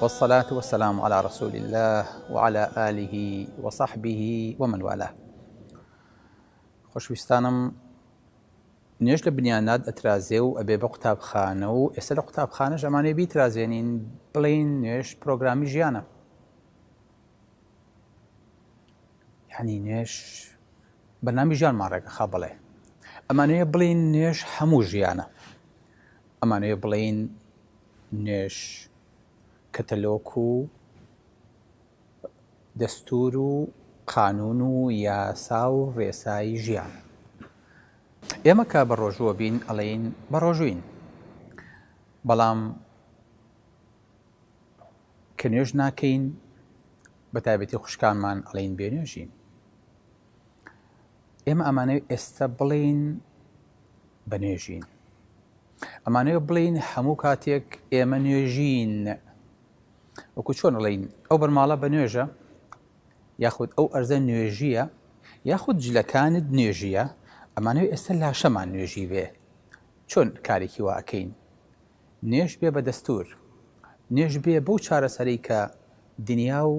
والصلاة والسلام علی رسول اللە وعلی آله وصحبه ومن والاه خۆشویستانم نوێژ لە بنیانات ئەترازێ و ئەبێ بە قوتابخانە و ئێستا لە قوتابخانەش ئەمانێ بیترازێنین بڵین نوێژ پرۆگرامی ژیانە یعنی نوێژ بەنامی ژیانمان ڕێگە خا بڵێ ئەمانەیە بڵین نوێژ هەموو ژیانە ئەمانەوێ بڵێین نوێژ کەتەلۆک و دەستور و قانون و یاسا و ڕێسای ژیانە. ئێمە کە بە ڕۆژووە بین ئەڵێین بە ڕۆژووین. بەڵام کە نوێژ ناکەین بە تایبەتی خوشکانمان ئەڵێین بێ نوێژین. ئێمە ئەمانەوێت ئێستا بڵێین بە نوێژین ئەمانەوێت بڵین هەموو کاتێک ئێمە نوێژین وەکو چۆن بڵین ئەو بەرماڵە بە نوێژە یاخود ئەو ئەرزە نوێژیە یاخود جلەکانت نوێژیە ئەمانەوێت ئێستا لاشەمان نوێژی بێ چۆن کارێکی واکەین نوێش بێ بە دەستور نوێش بێ بەو چارەسەری کە دنیا و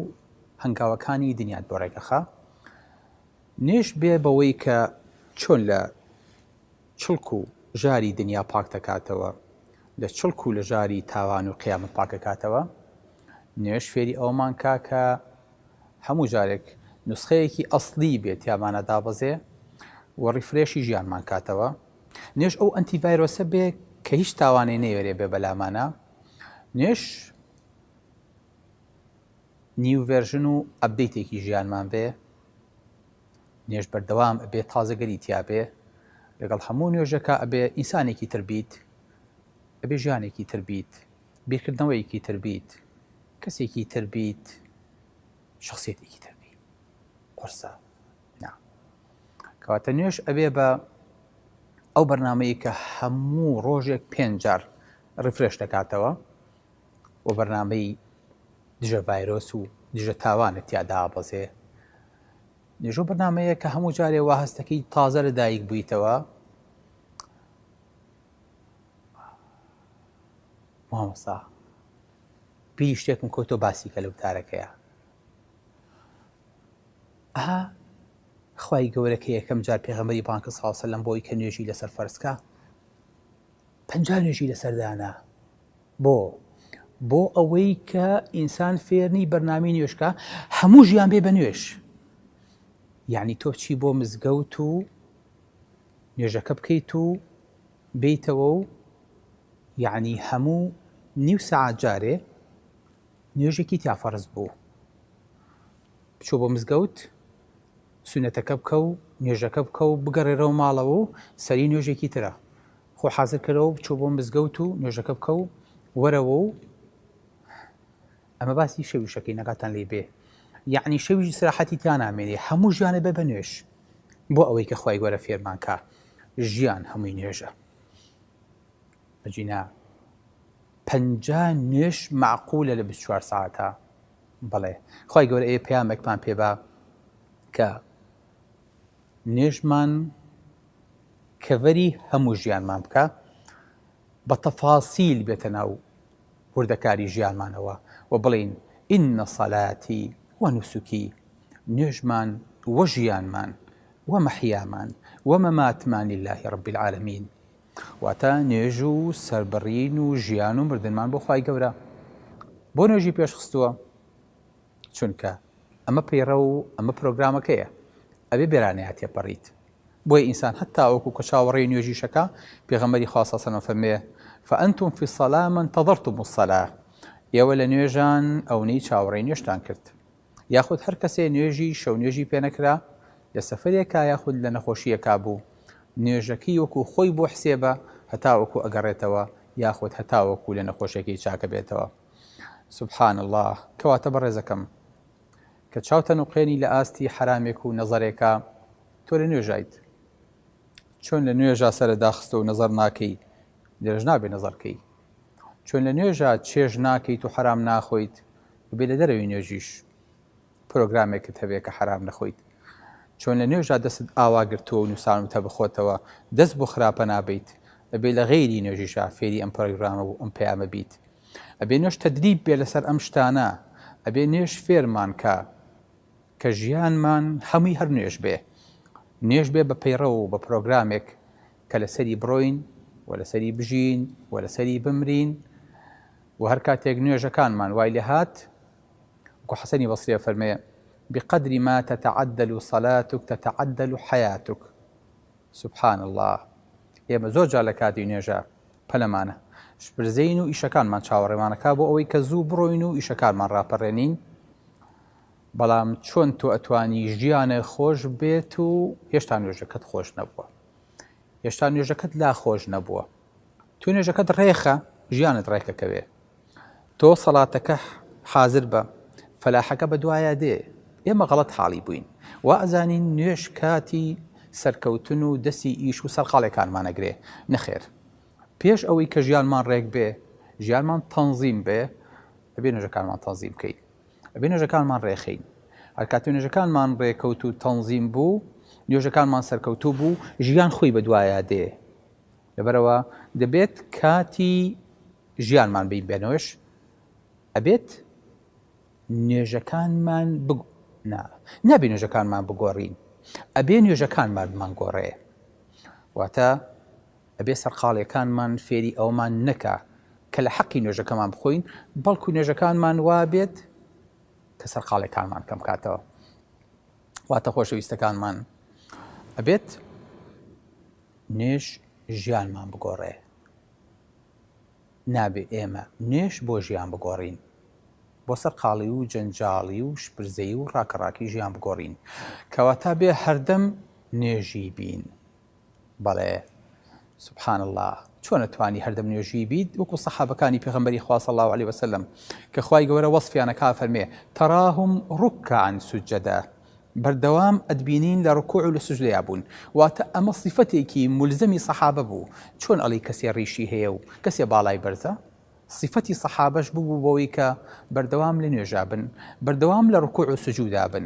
هەنگاوەکانی دنیات بۆ ڕێگەخە نوێژ بێ بەوەی کە چۆن لە چڵک و ژاری دنیا پاک دەکاتەوە، لە چڵک و لە ژاری تاوان و قیامەت پاک دەکاتەوە، نوێژ فێری ئەوەمان کا کە هەموو جارێک نوسخەیەکی ئەسڵی بێ تیامانا دابەزێ و ڕیفرێشی ژیانمان کاتەوە، نوێژ ئەو ئەنتی ڤایرۆسە بێ کە هیچ تاوانێ نەیەرێ بێ بەلامانا، نوێژ نیو ڤێرژن و ئەبدەیتێکی ژیانمان بێ نوێژ بەردەوام ئەبێ تازەگەری تیاابێ لەگەڵ هەموو نوێژەکە ئەبێ ئینسانێکی تربیت ئەبێ ژیانێکی تربیت بیرکردنەوەیەکی تربیت کەسێکی تربیت شخصێتێکی تربی قرسە کەواتە نوێش ئەبێ بە ئەو بەرنمەیە کە هەموو ڕۆژێک پێنجار ڕفرێش دەکاتەوە و بەرنامەی دژە ڤایرۆس و دژە تاوانت تیادا ئابەزێ نێژۆ بەرنمەیە کە هەموو جارێ وا هەستەکەی تازە لە دایک بوویتەوە مامۆسا بی شتێکم کۆتۆ باسی کە لە وتارەکەیە ئەها خی گەورەکە یەکەم جار پێغەمەری بانکە ساڵسە لەم بۆی کە نوێژی لەسەر فەرسکە پەنج نوێژی لەسەردانە بۆ؟ بۆ ئەوەی کە ئینسان فێرنی بەرنامی نوێشکە هەموو ژیان بێ بە نوێش یعنی تۆ چی بۆ مزگەوت و نوێژەکە بکەیت و بیتەوە و یعنی هەموو نیو سعات جارێ نوێژێکی تیافەرز بوو بچۆ بۆ مزگەوت سوننەتەکە بکە و نوێژەکە بکە و بگەڕێرەوە ماڵەوە و سەری نوێژێکی ترە. خۆ حازر کەرەوە بچۆ بۆ مزگەوت و نوێژەکە بکە و وەرەوە و ئەمە باسی شەویشەکەی نەگاتان لی بێ یعنی شەویش سراحەتی تیا نامێنێ هەموو ژیانە بە بە نوێش بۆ ئەوەی کە خی گەورە فێرمانکە ژیان هەمووی نوێژە بەجینا پەنجا نوێش معقولە لە 24 ساعتە بەڵێ خوای گەورە ئێ پەیامێکمان پێبا کە نوێژمان کەڤەری هەموو ژیانمان بکە بە تەفاسیل بێتە ناو وردەکاری ژیانمانەوە و بڵین ئینە سەلاتی وە نووسکی نوێژمان وە ژیانمان وە مەحیامان وە مەماتمانی اللهی ڕبی العالمین واتە نوێژ و سەربڕین و ژیان و مردنمان بۆ خوای گەورە بۆ نوێژی پێشخستووە چونکە ئەمە پەیڕە و ئەمە پرۆگرامەکەیە ئەبێ بێرانەیە تێپەڕیت بۆی ئینسان هەتا وەکو کە چاوەڕێی نوێژیشەکە پێغەمەری خواستەسەنە فەرمێ فەنتم فی سەلامن تەظرتم و سەلا ئێوە لە نوێژان ئەونەی چاوەڕێی نوێشتان کرد یاخود هەر کەسێ نوێژی شەونوێژی پێ نەکرا، لە سەفەرێکا یاخود لە نەخۆشییەکا بوو، نوێژەکەی وەکوو خۆی بۆ حسێبە هەتاوەکوو ئەگەڕێتەوە یاخود هەتاوەکوو لە نەخۆشییەکەی چاک ئەبێتەوە. سبحان اللە، کەواتە بەڕێزەکەم کە چاوتە نوقێنی لە ئاستی حەرامێک و نەزەرێکا، تۆ لە نوێژایت، چۆن لە نوێژا سەرت داخستووە و نەزەر ناکەی، لێرەش نابێ نەزەر کەی. چۆن لە نوێژا چێژ ناکەیت و حەرام ناخۆیت، ببێ لە دەرەوی نوێژیش پرۆگرامێکت هەبێ کە حەرام نەخۆیت چۆن لە نوێژا دەستت ئاوا گرتووە و نووسانوتە بخۆتەوە دەست بۆ خراپە نابیت ئەبێ لە غێری نوێژیشا فێری ئەم پرۆگرامە و ئەم پەیامە بیت ئەبێ نوێش تەدریب بێ لەسەر ئەم شتانە ئەبێ نوێش فێرمان کە کە ژیانمان هەمووی هەر نوێش بێ نوێش بێ بە پەیڕە و بە پرۆگرامێک کە لەسەری بڕۆین و لەسەری بژین و لەسەری بمرین وە هەر کاتێک نوێژەکانمان وای لێ هات، وەکو حەسەنی بەسری ئەفەرموێ، بقدر ما تتعدل صلاتک تتعدل حیاتک، سبحان اللە، ئێمە زۆر جار لە کاتی نوێژە پەلەمانە شپرزێین و ئیشەکانمان چاوەڕێمان ئەکا بۆ ئەوەی کە زوو بڕۆین و ئیشەکانمان ڕاپەڕێنین، بەڵام چۆن تۆ ئەتوانی ژیانت خۆش بێت و هێشتا نوێژەکەت خۆش نەبووە، هێشتا نوێژەکەت لا خۆش نەبووە؟ تۆ نوێژەکەت ڕێخە ژیانت ڕێکەکەوێ تۆ سەڵاتەکە حازر بە فەلاحەکە بە دوایە دێ ئێمە غەڵەت حاڵی بووین وا ئەزانین نوێش کاتی سەرکەوتن و دەسی ئیش و سەرقاڵێکانمانەگرێ نەخێر پێش ئەوەی کە ژیانمان ڕێک بێ ژیانمان تەنزیم بێ ئەبێ نوێژەکانمان تەنزیم بکەین ئەبێ نوێژەکانمان ڕێخین هەرکاتی نوێژەکانمان ڕێکەوت و تەنزیم بوو نوێژەکانمان سەرکەوتوو بوو ژیان خۆی بە دوایە دێ لەبەرئەوە دەبێت کاتی ژیانمان بین بێنەوەش ئەبێت نوێژەکانمان بگ... نا نابێ نوێژەکانمان بگۆڕین ئەبێ نوێژەکانمان بمان گۆڕێ واتە ئەبێ سەرقاڵیەکانمان فێری ئەومان نەکا کە لە حەقی نوێژەکەمان بخۆین بەڵکو نوێژەکانمان وابێت کە سەرقاڵێکانمان کەم کاتەوە واتە خۆشەویستەکانمان ئەبێت نوێژ ژیانمان بگۆڕێ نابێ ئێمە نوێش بۆ ژیان بگۆڕین بۆ سەر قاڵی و جەنجاڵی و شپرزەی و ڕاکەڕاکی ژیان بگۆڕین کەواتە بێ هەردەم نوێژی بین بەڵێ سبحان اللە چۆن ئەتوانی هەردەم نوێژی بیت وەکو سەحابەکانی پێغەمبەری خوا صلی اللە علیه وسلم کە خوای گەورە وەصفیانەکا فەرمێ تراهم رکعا سجدا بەردەوام ئەتبینین لە رکوع و لە سجدەیا بوون واتە ئەمە صفەتێکی ملزەمی سەحابە بوو چۆن ئەڵی کەسێ ڕیشی هەیە و کەسێ باڵای بەرزە صفەتی سەحابەش ببوو بەوەی کە بەردەوام لە نوێژا بن بەردەوام لە رکوع و سجودا بن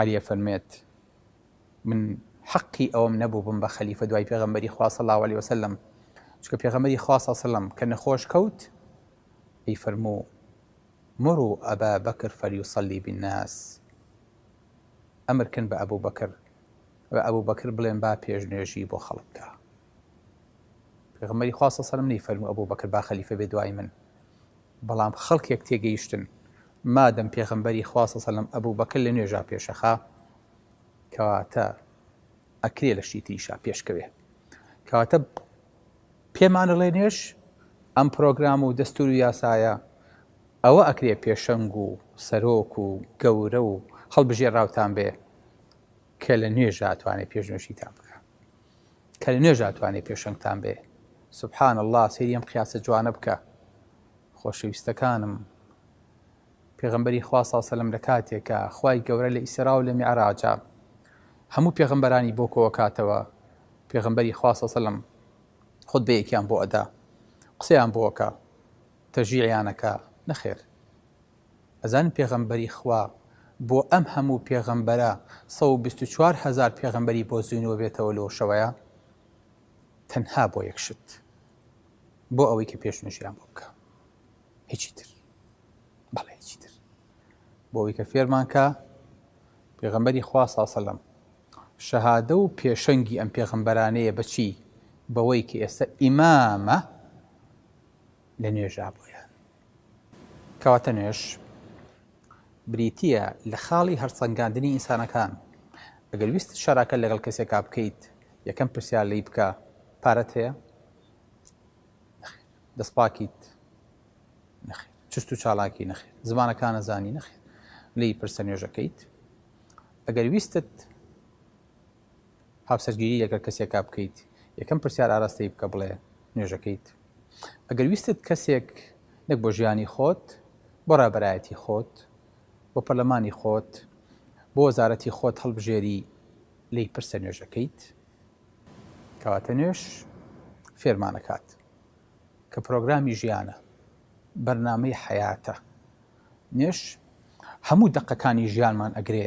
علی ئەفەرمێت، من حەقی ئەوەم نەبوو بم بە خەلیفە دوای پێغەمبەری خوا صلی اللە علیە وسلم، چونکە پێغەمبەری خوا صلی اللە علیە وسلم کە نەخۆش کەوت پێی فەرموو، مروا ابا بکر فلیصلی بالناس، ئەمرکن بە ئەبو بەکر بە ئەبو بەکر بڵێن با پێشنوێژی بۆ خەڵک بکا. پێغەمبەری خوا صلی اللە علیە وسلم نەیفەرموو ئەبو بەکر با خەلیفە بێ دوای من، بەڵام خەڵکێک تێگەیشتن مادەم پێغەمبەری خوا صلی اللە علیە و سلم ئەبوبەکر لە نوێژا پێشەخا کەواتە ئەکرێ لە شتی تریشا پێشکەوێ کەواتە پێمان ئەڵێ نوێژ ئەم پرۆگرام و دەستور و یاسایە ئەوە ئەکرێ پێشەنگ و سەرۆک و گەورە و هەڵبژێراوتان بێ کە لە نوێژا ئەتوانێ پێشنوێژیتان بکا کە لە نوێژا ئەتوانێ پێشەنگتان بێ سبحان اللە سەیری ئەم قیاسە جوانە بکە خۆشەویستەکانم پێغمبەری خوا ساسەلم لە کاتێکە خی گەورە لە ئیسرا و لە میعراجا هەموو پێغمبەرانی بۆ کۆوە کاتەوە پێغمبەری خوا ساسەلم خود بەیەکیان بۆ ئەدا قسەیان بۆکە تەژیعیانەکە نەخێر ئەزانن پێغەمبەری خوا بۆ ئەم هەموو پێغەمبەرە سەد و بیست و چوار هەزار پێغەمبەری بۆ زینووە بێتەوە لۆ شەوەیا؟ تەنها بۆ یەک شت بۆ ئەوەی کە پێش نوێژیان بۆ بکە هیچی تر بەڵێ هیچی تر بۆ ئەوەی کە فێرمان کە پێغەمبەری خوا ساسەلم شەهادە و پێشەنگی ئەم پێغەمبەرانەیە بەچی بەوەی کە ئێستا ئیمامە لە نوێژا بۆیان کەواتە نوێژ بریتییە لە خاڵی هەرسەنگاندنی ئینسانەکان ئەگەر ویست شەراکە لەگەڵ کەسێکا بکەیت یەکەم پرسیار لی بکە پارەت هەیە دەستپاکیت نەخێت چست و چالاکی نەخێت زمانەکانە زانی نەخێت لی پرسە نوێژەکەیت ئەگەر ویستت هاوسەرگیری لەگەڵ کەسێکا بکەیت یەکەم پرسیار ئاراستەی بکە بڵێ نوێژەکەیت ئەگەر ویستت کەسێک نەک بۆ ژیانی خۆت بۆ رابەرایەتی خۆت بۆ پەرلەمانی خۆت بۆ وەزارەتی خۆت هەڵبژێری لێی پرسە نوێژەکەیت کەواتە نوێژ فێرمانەکات کە پرۆگرامی ژیانە بەرنامەی حەیاتە نوێژ هەموو دەقەکانی ژیانمان ئەگرێ